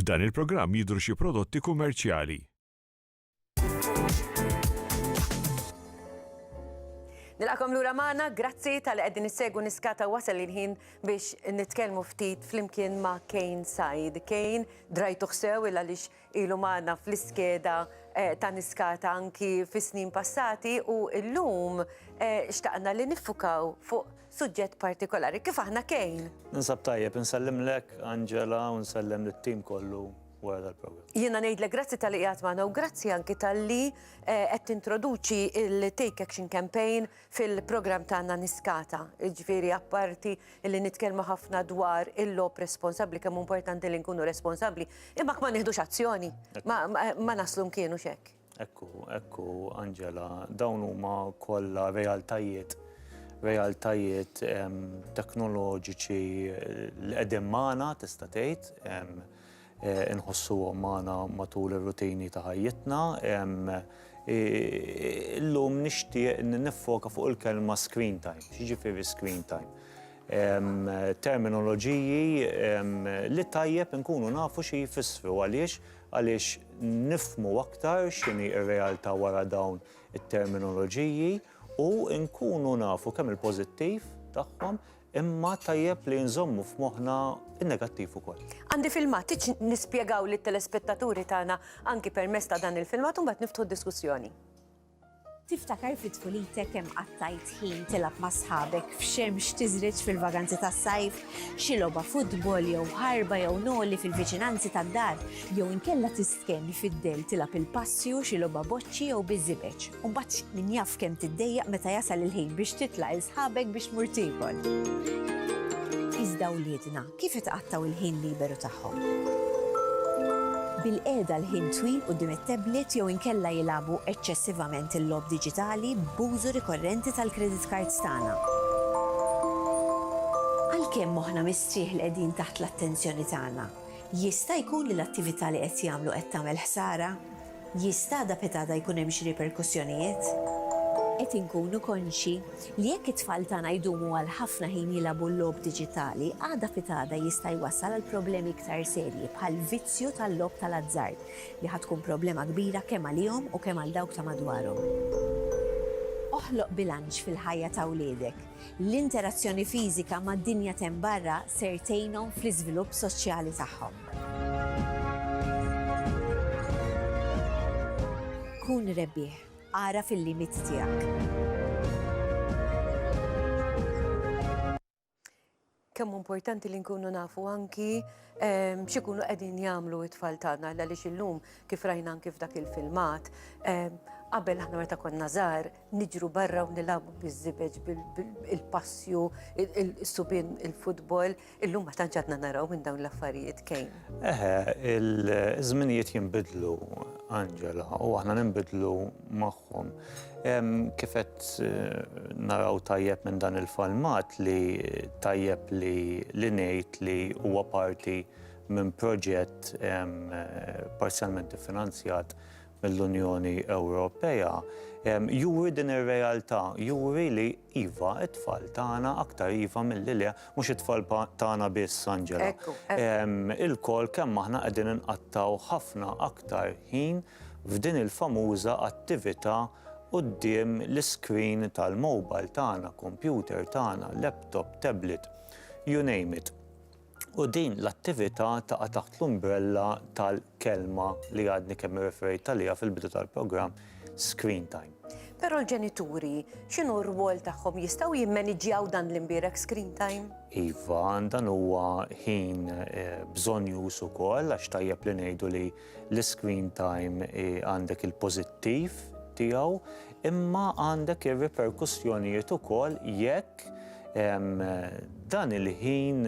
F'dan il-programm jidhru xi prodotti kummerċjali. Nilqakom lura magħna, grazzi tal qegħdin issegwu niskata wasal il-ħin biex nitkellmu ftit flimkien ma' Kane Said. Kane drajtu ħsew il għaliex ilu magħna fl-iskeda ta' Niskata anki fis-snin passati u llum xtaqna li niffukaw fuq suġġett partikolari. Kif aħna Kane? Ninsab tajjeb, insellimlek Angela u nsellem lit-tim kollu wara dal-programm. Jiena ngħidlek grazzi talli qiegħed magħna u grazzi anki talli qed tintroduċi l-Take Action Campaign fil-programm tagħna Niskata, jiġifieri apparti li nitkellmu ħafna dwar il-lob responsabbli kemm importanti li nkunu responsabbli, imma ma nieħdux azzjoni, ma naslu mkienu xek. Ekku, ekku, Angela, dawn huma kollha realtajiet realtajiet teknoloġiċi l-qedem magħna tista' tgħid inħossuhom magħna matul ir-rutini ta' ħajjitna. Illum nixtieq niffoka fuq il-kelma screen time. X'jiġifieri screen time? Terminoloġiji li tajjeb inkunu nafu xi jfissru. Għaliex? Għaliex nifhmu aktar x'inhi r-realtà wara dawn it-terminoloġiji u nkunu nafu kemm il-pożittiv tagħhom Imma tajjeb li nżommu f'moħħna n-negattiv ukoll. Għandi filmat, tridx nispjegaw lit-telespettaturi tagħna anki permezz ta' dan il-filmat u mbagħad niftħu d-diskussjoni. Tiftakar fi tfulitek kemm qattajt ħin tilgħab ma' sħabek f'xemx tiżreġ fil-vaganzi tas-sajf? Xi logħba futbol jew ħarba jew noli fil-viċinanzi tad-dar jew inkella Kemm ifiddel tilgħab il-passi u xi logħba boċċi jew biż-żibeġ, u mbagħad min jaf kemm tiddejjaq meta jasal il-ħin biex titla' 'il sħabek biex tmur tiekol. Iżda wliedna kif itqattgħu il-ħin liberu tagħhom? Bil-qiegħda l-ħin twil quddiem it-tablet jew inkella jilagħbu eċċessivament il-logħob diġitali b'użu rikorrenti tal-credit cards tagħna. Għalkemm moħħna mistrieħ li qegħdin taħt l-attenzjoni tagħna, Jista' jkun li l-attività li qed jagħmlu qed tagħmel ħsara? Jista' għada pitgħada jkun hemm xi riperkussjonijiet? Qed inkunu konxji li jekk it-tfal tagħna jdumu għal ħafna ħin jilagħbu l-logħob diġitali, għada pitgħada jista' jwassal għal problemi iktar serji bħall-vizzju tal-logħob tal-azzard, li ħa tkun problema kbira kemm għalihom u kemm għal dawk ta' madwarhom. Oħloq bilanċ fil-ħajja ta' wliedek. L-interazzjoni fiżika mad-dinja t'hemm barra ser tgħinhom fl-iżvilupp soċjali tagħhom. Kun rebbieħ. Agħraf il-limiti tiegħek. Kemm hu importanti li nkunu nafu anki x'ikunu qegħdin jagħmlu t-tfal tagħna għaliex illum kif rajna anki f'dak il-filmat, qabel aħna meta konna żgħar niġru barra u nilagħbu biż-żibeġ bil-passju, is-subien, il-futbol, illum ma tantx għadna naraw minn dawn l-affarijiet kejn. Eħe, iż-żminijiet jinbidlu, Angela, u aħna ninbidlu magħhom. Kif qed naraw tajjeb minn dan il-falmat li tajjeb li li ngħid li huwa parti minn proġett parzjalment iffinanzjat mill-Unjoni Ewropea, juri din ir-realtà, juri li iva, it-tfal tagħna aktar iva milli le, mhux it-tfal tagħna biss, Angela. Ilkoll kemm aħna qegħdin inqattgħu ħafna aktar ħin f'din il-famuża attività quddiem l-iscreen tal-mobile tagħna, kompjuter tagħna, laptop, tablet, you name it. U din l-attività taqa' taħt l-umbrella tal-kelma li għadni kemm irreferejt għaliha fil-bidu tal-programm, screen time. Però l-ġenituri x'inhu r-rwol tagħhom? Jistgħu jimmaniġġjaw dan l-imbierek screen time? Iva, dan huwa ħin eh, bżonn jus ukoll għax tajjeb li ngħidu li L-iscreen time għandek il-pożittiv tiegħu imma għandek ir-riperkussjonijiet ukoll jekk dan il-ħin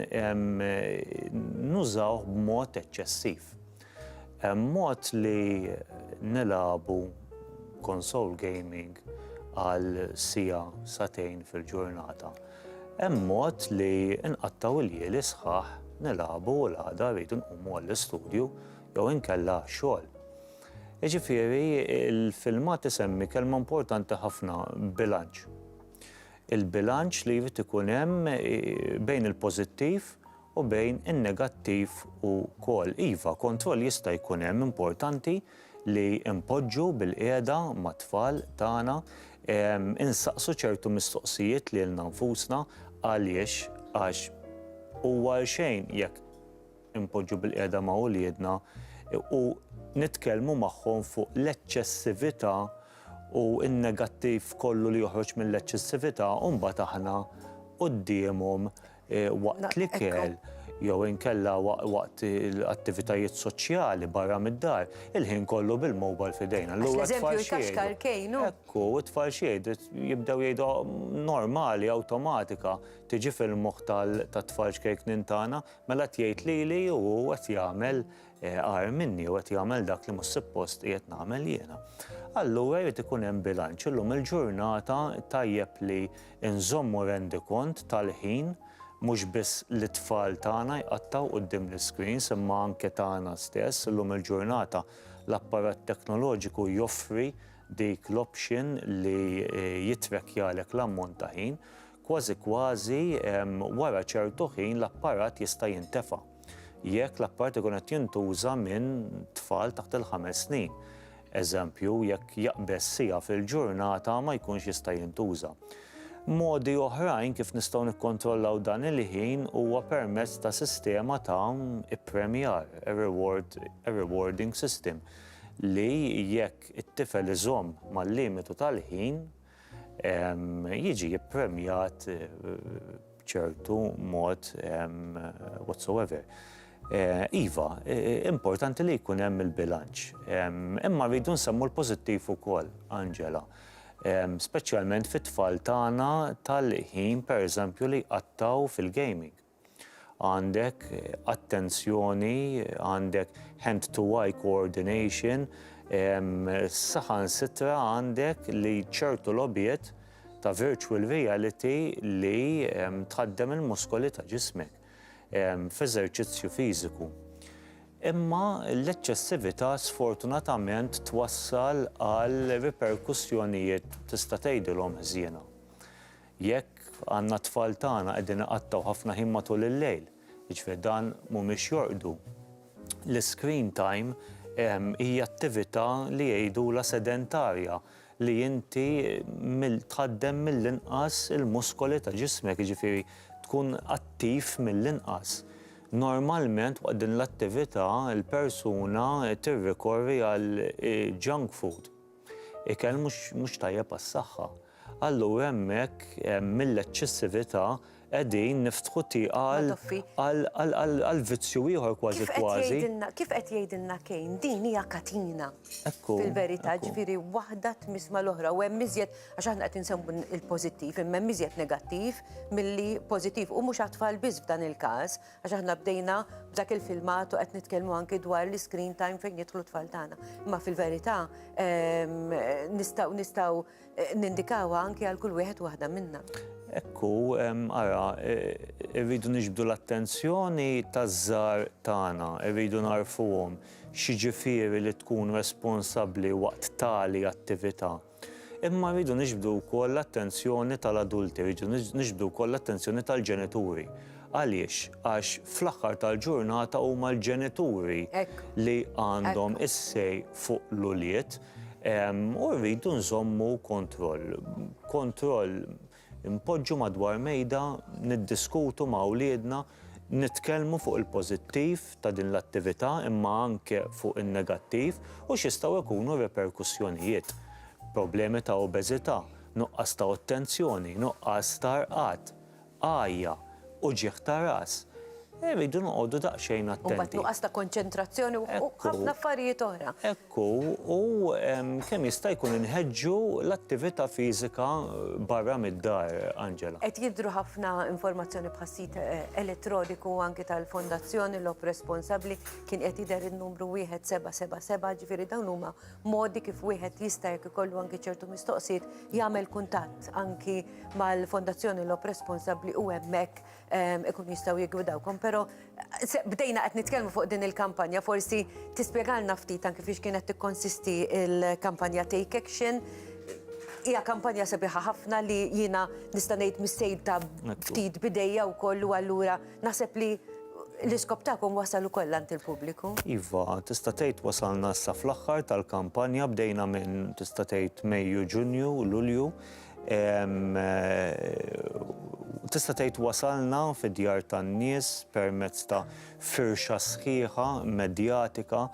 nużawh b'mod eċċessiv. Hemm mod li nilagħbu console gaming għal siegħa, sagħtejn fil-ġurnata. Hemm mod li nqattgħu l-lieli sħaħ, nilagħbu u l-għada rridu nqumu għall-istudju jew inkella għax-xogħol. Jiġifieri, il-filmat isemmi kelma importanti ħafna, bilanċ. Il-bilanċ li jrid ikun hemm bejn il-pożittiv u bejn in-negattiv u kol. Iva, kontroll jista' jkun hemm, importanti li npoġġu bilqiegħda mat-tfal tagħna, insaqsu ċertu mistoqsijiet lilna nfusna, għaliex? Għax huwa għal xejn jekk inpoġġu bilqiegħda ma' uliedna u nitkellmu magħhom fuq l-eċċessività u n-negattiv kollu li joħroġ mill-eċċessività u mbagħad aħna quddiemhom waqt l-ikel jew inkella waqt attivitajiet soċjali barra mid-dar, il-ħin kollu bil-mobile f'idejna. Għax l-eżempju jkaxkar kejn, hu? Ekku, u t-tfal x'jgħidu? Jibdew jgħidu normali, awtomatika, tiġi fil-moħħ tat-tfal xkejknin tagħna, mela qed jgħid lili u hu qed jagħmel. agħar minni u qed jagħmel dak li mhux suppost qiegħed nagħmel jiena. Allura jrid ikun hemm bilanċ. Illum il-ġurnata tajjeb li nżommu rendikont tal-ħin mhux biss li t-tfal tagħna jqattgħu quddiem l-iscreens imma anke tagħna stess. Illum il-ġurnata l-apparat teknoloġiku joffri dik l-option li jittrakkjalek l-ammont ta' ħin. Kważi kważi wara ċertu ħin l-apparat jista' jintefa'. Jekk l-apparat ikun qed jintuża minn tfal taħt il-ħames snin. Eżempju, jekk jaqbeż siegħa fil-ġurnata ma jkunx jista' jintuża. Modi oħrajn kif nistgħu nikkontrollaw dan il-ħin huwa permezz ta' sistema ta' ippremjar, reward, rewarding system, li jekk it-tifel iżomm mal-limitu tal-ħin, jiġi ppremjat b'ċertu mod whatsoever. Eh, iva, eh, importanti li jkun hemm il-bilanċ. Imma rridu nsemmu l-pożittiv ukoll, Angela. Speċjalment fit-tfal tagħna tal-ħin pereżempju li qattaw fil-gaming. għandek attenzjoni, għandek hand-to-eye coordination, saħansitra għandek li ċertu logħbiet ta' virtual reality li tħaddem il-muskoli ta' ġismek f'eżerċizzju fiżiku. Imma l-eċċessività sfortunatament twassal għal riperkussjonijiet tista' tgħidilhom ħżiena. Jekk għandna t-tfal tagħna qegħdin iqattgħu ħafna ħin matul il-lejl, jiġifieri dan mhumiex jorqdu, l-iscreen time hija attività li jgħidulha sedentarja li inti tħaddem mill-inqas il-muskoli ta' ġismek, jiġifieri tkun attiv mill-inqas. Normalment waqt din l-attività l-persuna tirrikorri għal junk food. Ikel mhux tajjeb għas-saħħa. Allura hemmhekk mill-eċċessività qegħdin niftħu tieqa għal vizzju ieħor kważi kważi. Kif qed jgħidilna Kane, din hija katina fil-verità, ġifieri waħda tmiss mal-oħra u hemm iżjed, għax aħna qed insemmu l-pożittiv, imma hemm iżjed negattiv milli pożittiv u mhux għat-tfal biss f'dan il-każ. Għax aħna bdejna b'dak il-filmat u qed nitkellmu anki dwar l-iscreen time fejn jidħlu t-tfal tagħna. Imma fil-verità nistgħu nistgħu nindikawha anki għal kull wieħed waħda minna. Ekku, ara, irridu niġbdu l-attenzjoni taż-żgħar tagħna, irridu nagħrfuhom x'jiġifieri li tkun responsabbli waqt tali attività. Imma rridu niġbdu wkoll l-attenzjoni tal-adulti, rridu niġbdu wkoll l-attenzjoni tal-ġenituri. Għaliex? Għax fl-aħħar tal-ġurnata huma l-ġenituri li għandhom is-say fuq l-ulied u rridu nżommu kontroll. Kontroll Inpoġġu madwar mejda, niddiskutu ma' wliedna, nitkellmu fuq il-pożittiv ta' din l-attività imma anke fuq in-negattiv u x'jistgħu jkunu r-riperkussjonijiet. Problemi ta' obeżità, nuqqas ta' ottenzjoni, nuqqas ta' rqad, għajja, uġigħ ta' ras, irridu noqogħdu daqsxejn attenti. U mbagħad nuqqas ta' konċentrazzjoni u ħafna affarijiet oħra. u kemm jista' jkun inħeġġu l-attività fiżika barra mid-dar, Angela. Qed jidhru ħafna informazzjoni bħas-sit elettroniku anki tal-Fondazzjoni Lob Responsabbli, kien qed jidher in-numru 1777, ġifieri dawn huma modi kif wieħed jista' jekk ikollu anki ċertu mistoqsijiet jagħmel kuntatt anki mal-Fondazzjoni Lob Responsabbli u hemmhekk ikun jistaw jigwidawkom, pero bdejna qed nitkellmu fuq din il-kampanja, forsi tispjegalna ftit anki fiex kienet tikkonsisti il-kampanja Take Action. Hija kampanja sabiħa ħafna li jiena nista' ngħid mis-sejd ta' ftit bidejja wkoll u allura naħseb li l-iskop tagħkom wasal ukoll għand il-pubbliku. Iva, tista' tgħid wasalna issa fl-aħħar tal-kampanja bdejna minn tista' tgħid Mejju, Ġunju, Lulju, Tista' tgħid wasalna fid-djar tan-nies permezz ta' firxa sħiħa medjatika,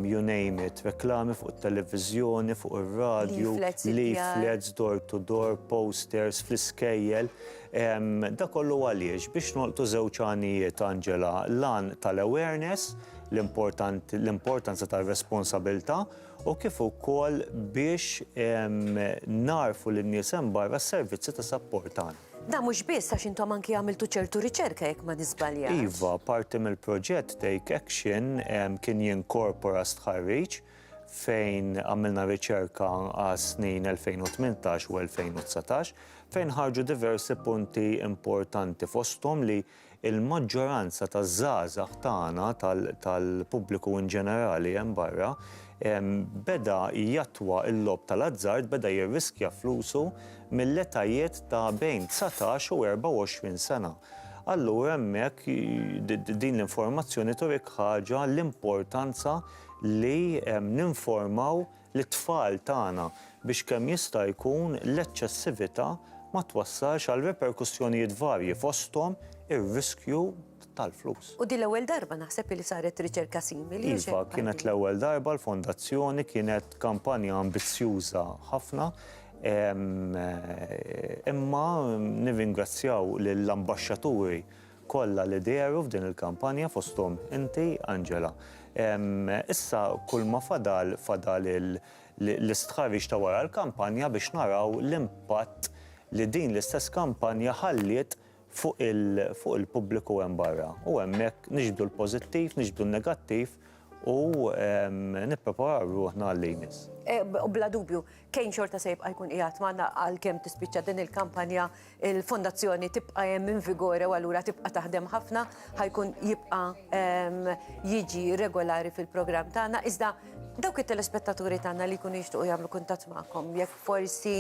you name it, reklami fuq it-televiżjoni, fuq ir-radju, leaflets, door to door, posters fl-iskejjel. Dak kollu għaliex? Biex nolqtu żewġ għanijiet, Angela. L-għan tal-awareness, l-importanza tar-responsabilità. u kif ukoll biex nagħrfu lin-nies hemm barra s-servizzi ta' sapport tagħna. Dan mhux biss għax intom anki għamiltu ċertu riċerka jekk ma niżbaljax. Iva, parti mill-proġett Take Action kien jinkorpora stħarriġ fejn għamilna riċerka għas-snin 2018 u 2019 fejn ħarġu diversi punti importanti fosthom li Il-maġġoranza taż-żgħażagħ tagħna, tal-pubbliku in ġenerali hemm barra, beda jattwa l-logħob tal-azzard, beda jirriskja flusu mill-etajiet ta' bejn dsatax u erbgħa u għoxrin sena. Allura hemmhekk din l-informazzjoni turik ħaġa l-importanza li ninformaw lit-tfal tagħna biex kemm jista' jkun l-eċċessività ma twassalx għal reperkussjonijiet varji fosthom ir-riskju tal-flus. U din l-ewwel darba naħseb illi saret riċerka simili. Iva, kienet l-ewwel darba l-Fondazzjoni kienet kampanja ambizzjuża ħafna imma nirringrazzjaw lill-Ambaxxaturi kollha li dehru f'din il-kampanja fosthom inti Angela. Issa kull ma fadal fadal l-istħarriġ ta' wara l-kampanja biex naraw l-impatt li din l-istess kampanja ħalliet fuq il-pubbliku hemm barra u hemmhekk niġbdu l-pożittiv, niġbdu n-negattiv u nippreparaw ruħna għal li jmiss. Bla dubju, Kane xorta se jibqa' jkun qiegħed magħna għalkemm tispiċċa din il-kampanja, il-fondazzjoni tibqa' hemm in vigore u allura tibqa' taħdem ħafna, ħajkun jibqa' jiġi regolari fil-programm tagħna. Iżda dawk it-telespettaturi tagħna li jkunu jixtiequ jagħmlu kuntatt magħkom, jekk forsi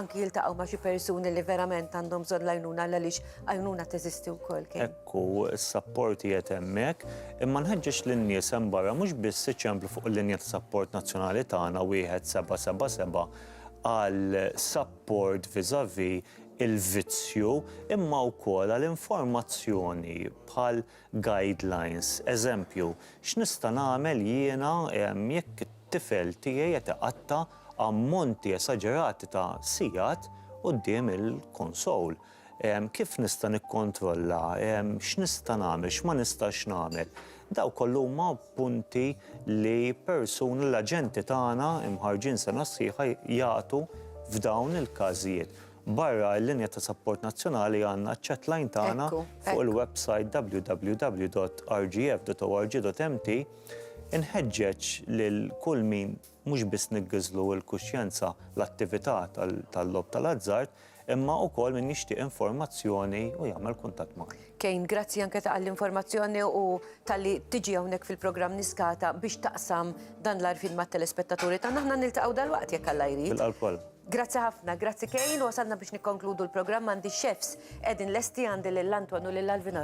anki jiltaqgħu ma' xi persuni li verament għandhom bżonn l-għajnuna għaliex għajnuna teżisti wkoll, Kane. u s-sapport qiegħed hemmhekk, imma nħeġġeġ lin-nies hemm barra mhux biss iċemplu fuq il-linja ta' sapport nazzjonali tagħna 1777 għal sapport vis-à-vis il-vizzju imma wkoll għal informazzjoni bħal guidelines, eżempju, x'nista' nagħmel jiena jekk it-tifel tiegħi qed iqatta' ammonti esaġerati ta' sigħat quddiem il-console. Kif nista' nikkontrolla? X'nista' nagħmel? X'ma nistax nagħmel? Daw kollu huma punti li persuni, l-aġenti tagħna imħarrġin sena sħiħa jagħtu f'dawn il-każijiet. Barra l-linja ta' sapport nazzjonali għandna ċ-chat line tagħna fuq il-websajt www.rgf.org.mt. Inħeġġeġ lil kull min Mhux biss niggiżlu l-kuxjenza l-attività tal-logħob tal-azzard, imma wkoll min jixtieq informazzjoni u jagħmel kuntatt magħna. Kane, grazzi anke tal-informazzjoni u talli tiġi hawnhekk fil-programm Niskata biex taqsam dan l-għarfien mat-telespettaturi tagħna. Aħna niltaqgħu dalwaqt jekk Alla jrid. Bil-qalb kollha. Grazzi ħafna, grazzi Kane, wasalna biex nikkonkludu l-programm għandi x-chefs qegħdin lesti għandi lil Anton u lil Alvin.